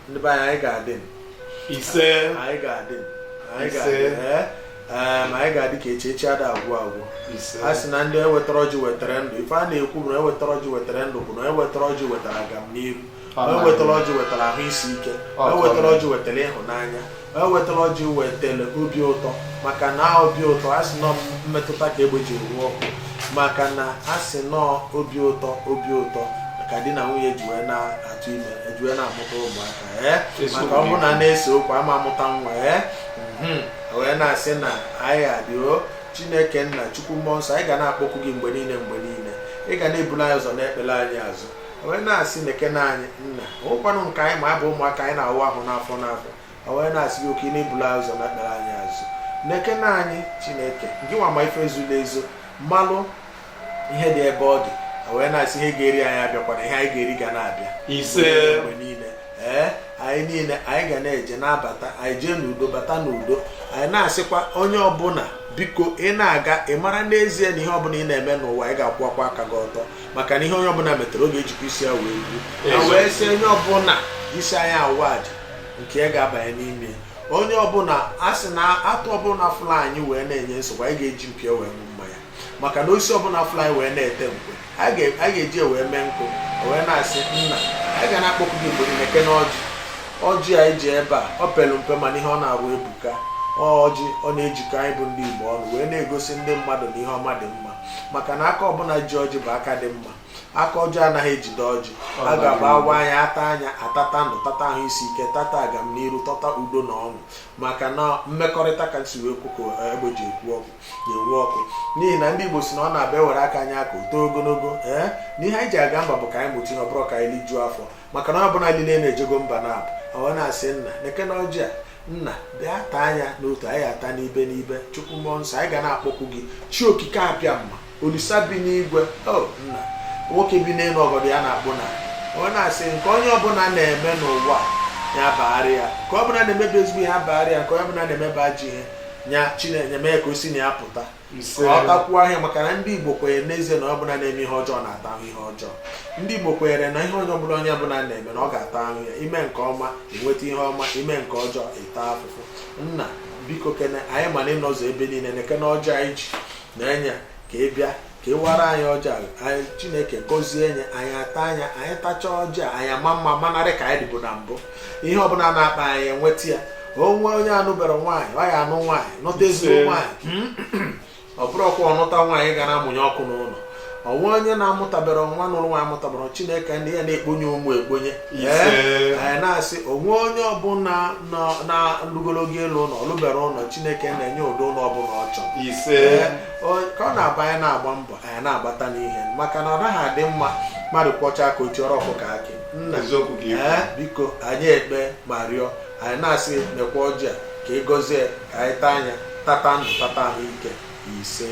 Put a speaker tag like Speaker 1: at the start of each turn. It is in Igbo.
Speaker 1: ndị be anyị ga-adị ise anyị ga-adị
Speaker 2: anyị
Speaker 1: ga-adị eh? ma anyị ga-adị ka echi echi ada agwụ agwụ a sị na ndị wetara ọjị wetara ndụ ife a na-ekwu bụ na onye wetara ọjị wetara ndụ bụ na onye wetara ọjị wetara agamniru onye wetara ọjị wetara ahụ isi ike onye wetara ọjị wetara ịhụnanya onye wetara ọjị wetara obi ụtọ maka na obi ụtọ a sị na ọ mmetụta ka egbe ji ruo ọkụ maka na a sị na ọ obi ụtọ obi ụtọ ka di na nwunye ji wee na-atụ ime eji wee na-amụta ụmụaka ee maka ọ bụrụ na na-ese okwu a ma amụta nwa ee mhm. wee na-asị na anyị adịo chineke nna chukwu mmụọ nsọ anyị ga na-akpọku gị mgbe niile mgbe niile ị ga na-eburu anyị ụzọ na-ekpere anyị azụ wee na-asị nekene anyị nna ọkwanụ nke anyị ma abụ ụmụaka anyị na-awụ ahụ n'afọ n'afọ wee na-asị gị oke na-ebulu anyị ụzọ na-ekpere anyị azụ nekene anyị chineke gị nwa ma ife e zolu ezo malụ ihe dị ebe ọ dị wee na-asị ihe ga-eri anyị abịakwana ihe anyị ga-eri ga na-abịa ise mgbe niile ee anyị niile anyị ga na-eje na-abata anyị jee n'udo bata n'udo anyị na-asịkwa onye ọbụla biko ị na-aga ị mara n'ezie na ihe ọbụla ị na-eme n'ụwa ị ga-akwụwakwa aka gị ọtọ maka na ihe onye ọbụla metere ọ ga-ejikwa isi ya wee buo na wee sị onye ọbụla isi anyị awa aja nke ya ga-abanye n'ime onye ọbụla a sị na atụ ọbụla fụlụ anyị wee na-enye nsogbu anyị ga-eji mpi ya wee ṅụọ mmanya maka na osisi ọbụla fụlụ anyị wee na-ete nkwa a ga-eji wee mee nkụ wee na-asị nna anyị ga na-akpọku gị mgbe niile nekene ọjị ọjị anyị ji ebe a ọ pelu mpe mana ihe ọ na-arụ ebuka ọjị ọ na-ejikọ anyị bụ ndị Igbo ọnụ wee na-egosi ndị mmadụ na ihe ọma dị mma maka na aka ọbụla ji ọjị bụ aka dị mma aka ọjọọ anaghị ejide ọjị a ga-agba awa anyị ata anyị atata ndụ tata ahụ isi ike tata agamniru tata udo na ọṅụ maka na mmekọrịta ka si wee kwuko eh, egbe ji ekwu ọkụ na-enwu ọkụ n'ihi na ndị Igbo sị na ọ na-abụ e were aka nye aka o too ogologo ee eh, na ihe anyị ji aga mba bụ ka anyị mụta ihe ọ bụrọ ka anyị lijuo afọ maka na ọ bụla niile na-ejego mba na-abụ wee na-asị nna nekene ọjị a nna bịa taa ya n'otu anyị ata n'ibe n'ibe chukwu mmụọ nsọ anyị ga na-akpọku gị chi okike abịama olisa bi n'igwe o nna nwoke bi n'elu ọgọdọ ya na-akpụ n'ana wee na-asị nke onye ọbụla na-eme n'ụwa ya baara ya nke ọ bụla na-emebe ezigbo ihe abaara ya nke onye ọbụla na-emebe ajọ ihe nya chineke mee ka o si na ya pụta ọ takwuo ahụhụ ya maka na ndị Igbo kwenyere n'ezie na onye ọbụla na-eme ihe ọjọọ na-ata ahụhụ ihe ọjọọ ndị Igbo kwenyere na ihe onye ọbụla onye ọbụla na-eme na ọ ga-ata ahụhụ ya i mee nke ọma i nweta ihe ọma i mee nke ọjọọ ị taa afụfụ nna biko kene anyị ma na ị nọzu ebe niile nekene ọjị a anyị ji na-enye ka ị bịa ka ị wara anyị ọjị a chineke gọzie nye anyị ata ya anyị tachaa ọjị a anyị ama mma manarị ka anyị dịbụ na mbụ ihe ọbụla a na-akpa anyị enweta ya o nwee onye anụbere nwaanyị ọ ya anụ nwaanyị nụta ezigbo nwaanyị ọ bụrọkwa ọ nụta nwaanyị ga na-amụnye ọkụ n'ụlọ o nwee onye na-amụtabere nwa nụlụ nwaanyị amụtabere chineke ndị ya na-ekponye ụmụ ekponye anyị na-asị o nwee onye ọbụla lugolu ogo ịlụ ụlọ ọ lụbere ụlọ chineke na-enye ụdị ụlọ ọbụla ọ chọrọ ka ọ na-abụ anyị na-agba mbọ anyị na-agbata n'ihe maka na ọ naghị adị mma mmadụ kwọcha aka o tiere ọkụkọ akị nna eh, biko anyị ekpe ma rịọ anyị na-asị mekwa ọjị a ka ị gọzie ka anyị taa anyị atata ndụ tata ahụ ike ise